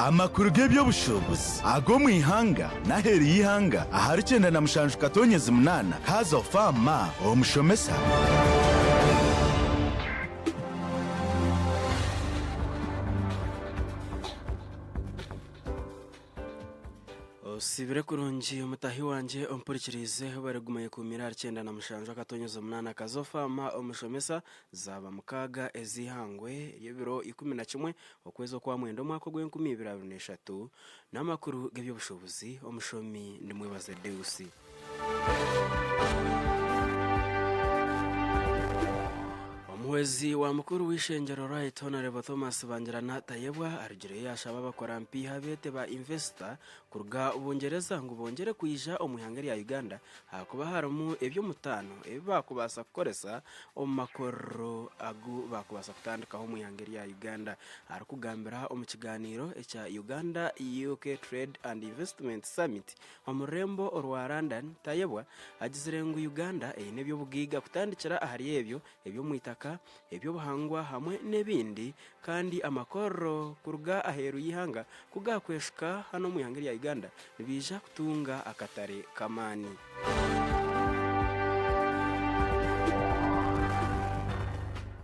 Amakuru g'eby'obushuubuzi ag'omu ihanga n'aheeru y'eihanga ahari kyenda na mushanju katonyezi munaana haza fa ma omushomesa. Osiibire kurungi mutaahi wangye ompurikiriize, bari guma yekuumiire ahari kyenda na mushanju akatonyezi omunaana kaza fa ma omushomesa. Zaaba mukaaga ez'eihangwe ry'ebiro ikumi na kimwe okwezi okwa mwenda omwaka ogw'enkumi ibiri abiri na eshatu n'amakuru g'eby'obushubuzi. Omushomi ndi Mwebaze Deus. Omuhwezi wa mukuru w'eishengyero Right Hon Thomas Bangirana Tayebwa arugireyo yaashaba abakora mpiiha beete ba Investor kuruga Bungyereza ngu bongyere kwija omu ihanga erya Uganda Ahakuba harimu eby'omutaano ebi baakubaasa kukoresa omu makorero agu baakubaasa kutandikaho omu ihanga erya Uganda. Arikugambira omu kigaaniiro ekya Uganda UK Trade and Investment Summit omu rurembo orwa London, Tayebwa agizire ngu Uganda eine eby'obugaiga kutandikira ahari ebyo eby'omu itaka, eby'obuhangwa hamwe n'ebindi kandi amakorro kuruga aheeru y'eihanga ku gaakweshuka hanu omu ihanga erya Uganda nibaija kutunga akatare k'amaani.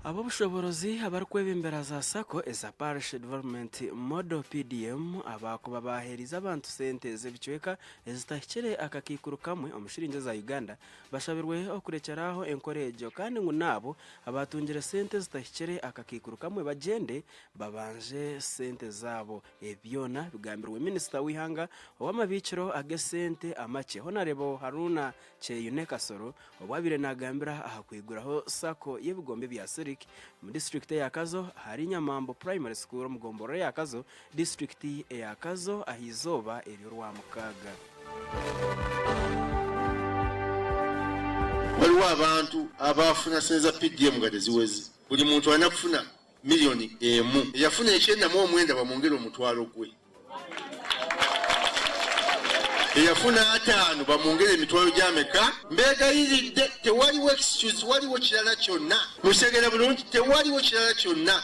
Ab'obushoboorozi abarikwebembera za sacco eza Parish Development Model, PDM, abaakuba baaheerize abantu sente z'ebicweka ezitahikire akakaikuru kamwe omu shiringi eza Uganda Bashabirwe okurekyera aho enkora egyo kandi ngu n'abo abaatungire sente ezitahikire akakaikuru kamwe bagyende babanje sente zaabo. Ebi byona bigambirwe minisita w'eihanga ow'amabiikiro ag'esente amakye Honarebo Haruna Kyeyune Kasoro obu abaire nagambira aha kwiguraho sacco y'ebigombe bya Sirik omu disiturikiti eya Kazo ahari Nyamambo Primary School omu gomborora eya Kazo Disiturikiti eya Kazo aha izooba ery'orwamukaaga. Hariho abantu abaafuna sente za PDM nkade ziweze buri muntu aine kufuna million emu eyafuna ekyenda mu omwenda bamwongere omutwaro gwe eyafuna atano bamwongere emitwaro gyameka? Mbegayiridde tewariwo excuse tewariwo kirara kyona mukitegeera burungi tewariwo kirara kyona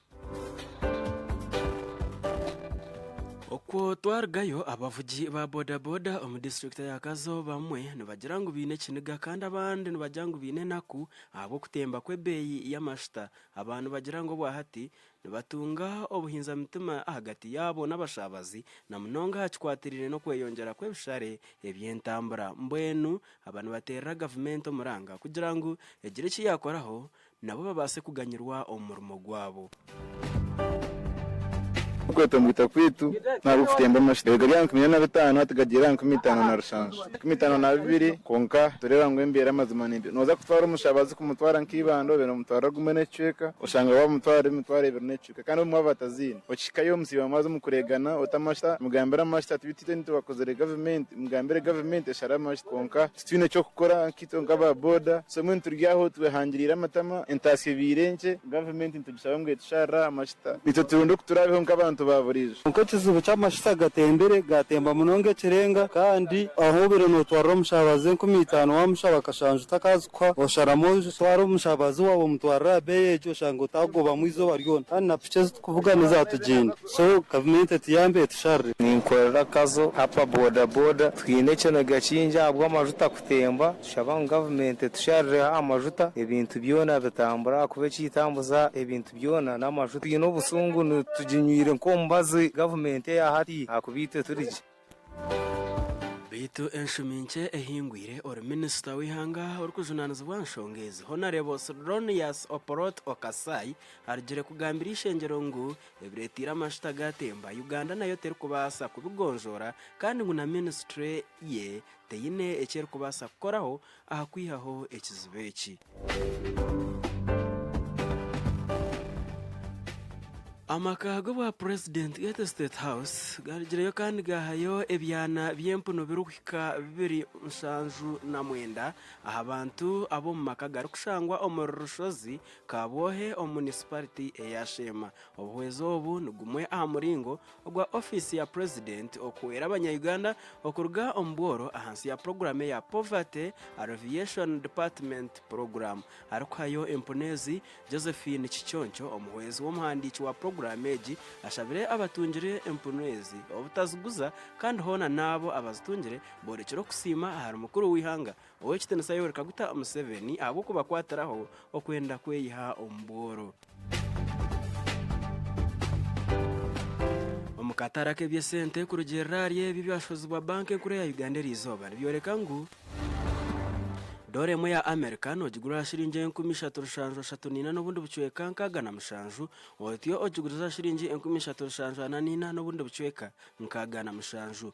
Okwo twarugayo abavugi ba bodaboda omu disiturikiti ya Kazo abamwe nibagira ngu baine ekiniga kandi abandi nibagira ngu baine enaku ahabw'okutemba kw'ebeeyi y'amashuta. Aba nibagira ngu obwa hati nibatunga obuhinza mitima ahagati yaabo n'abashaabazi na munonga aha kikwatiraine n'okweyongyera kw'ebishare eby'entambura. Mbwenu aba nibateerera gavumenti omuranga kugira ngu egire eki yaakoraho nabo babaase kuganyirwa omu murimo gwabo. Okweta omwita kwaitu n'ahabw'oku tutemba amashita. Ebigari aha nkumi ina na bitaano hati gagiire aha nkumi itaano na rushanju ikumi itaano na bibiri. Kwonka tureeba ngu embeera mazima ni mbi. Nooza kutwara omushabazi kumutwara nk'eibanda obeire nomutwarira gumwe n'ekicweka, oshanga waamutwarira emitwaro ebiri. Kwonka kandi obu mwaba bataziine, okihikayo omusiiba mwaaza omu kureegana ota amasita, mugambire amasita ati beitu itwe nitubakozere gavumenti, mugambire gavumenti eshare amasita. Kwonka titwine ky'okukora nkaitwe nk'aba boda, so mbwenu turi aho twehangiriire amatama, entaasya ebaire nkye, gavumenti nitugishaba ngu etusharire aha mashita itwe turonde oku turaabeho nk'abantu ba buriijo. Kwonka ekizibu ky'amashita gatembire, gaatemba munonga ekirenga, kandi ahu obaire nootwarira omushaabaze enkumi itaano waamushaba akashanja Ka osharamu otwara omushabazi waawe omutwarire aha beeyi egyo oshange otaagobamu eizooba ryona. Kandi na piki ezi turikuvuga n'ezaatugyenda so gavumenti etuyambe etusharire. Ninkorera Kazo app bodaboda. Twine ekiniga kingi ahabw'amajuta kutemba. Tushaba ngu gavumenti etusharireho aha majuta ebintu byona bitambure ahakuba ekitambuza ebintu byona n'amajuta. Twine obusungu tuginywire nk'omubazi gavumenti eya hati ahakuba itwe turi gye. Beitu enshumi nkye ehingwire ori minisita w'eihanga orikujunaanizibwa aha nshonga ezi Honarebo Sylonius Opolot Okasai arugire kugambira eishengyero ngu ebireteire amashuta gaatemba Uganda nayo terikubaasa kubigonjoora kandi ngu na minisitule ye teine eki erikubaasa kukoraho aha kwihaho ekizibu eki. Amaka g'obwapurezidenti gaitu State House garigireyo kandi gaahayo ebyana by'empunu birikuhika bibiri nshanju na mwenda aha bantu ab'omu maka garikushangwa omuri Rushozi Kabwohe omu munisipariti eya Sheema. Obuhwezi obu ni gumwe aha muringo ogwa ofiisi ya purezidenti okuhwera abanyayuganda okuruga omu bworo ahansi ya puroguramu eya Poverty Alleviation Department Program arikuhayo empunu ezi Josephine Kiconco omuhwezi w'omuhandiiki wa puroguramu egi ashabire abatungire empunu ezi obutaziguza kandi hoona naabo abazitungire borekire okusiima ahari mukuru w'eihanga Ow'ekitiinisa yoreka guta Museveni ahabw'okubakwatiraho okwenda kweyiha omu bworo? Omu katare ak'eby'esente kurugiirira ahari ebi ebyashozibwa banka enkuru eya Uganda eri izooba nibyoreka ngu doora emwe ya Amerika noogigura aha shiringi enkumi ishatu rushanju ashatu naina n'obundi bucweka nkaaga na mushanju, otyo ogiguriza aha shiringi enkumi ishatu rushanju ana naina n'obundi bucweka nkaaga na mushanju.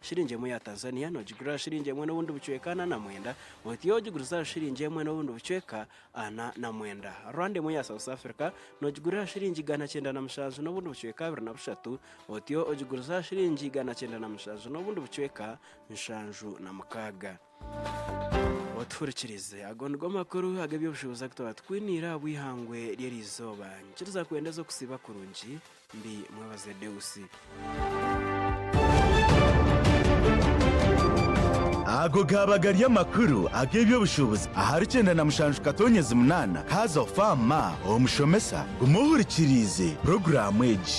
Shiringi emwe ya Tanzania nogigurira shiringi emwe n'obundi bucweka ana na mwenda, oti yo ogiguriza shiringi emwe n'obundi bucweka ana na mwenda. Rwanda emwe ya South Africa nogigurira shiringi igana kyenda na mushanju n'obundi bucweka abiri na bushatu, oti yo ogiguriza shiringi igana kyenda na mushanju n'obundi bucweka nshanju na mukaaga. otuhurikirize ago nigo makuru ag'eby'obushubuzi agu twaba tukwiniire aha bw'eihangwe ry'erizooba nikiriza kwenda oze kusiiba kurungi ndi mwebaze deusi Ago gaaba gari amakuru ag'eby'obushubuzi ahari kyenda na mushanju katonyezi munaana kaaza ofa aha ma omushomesa guma ohurikiriize puroguraamu egi.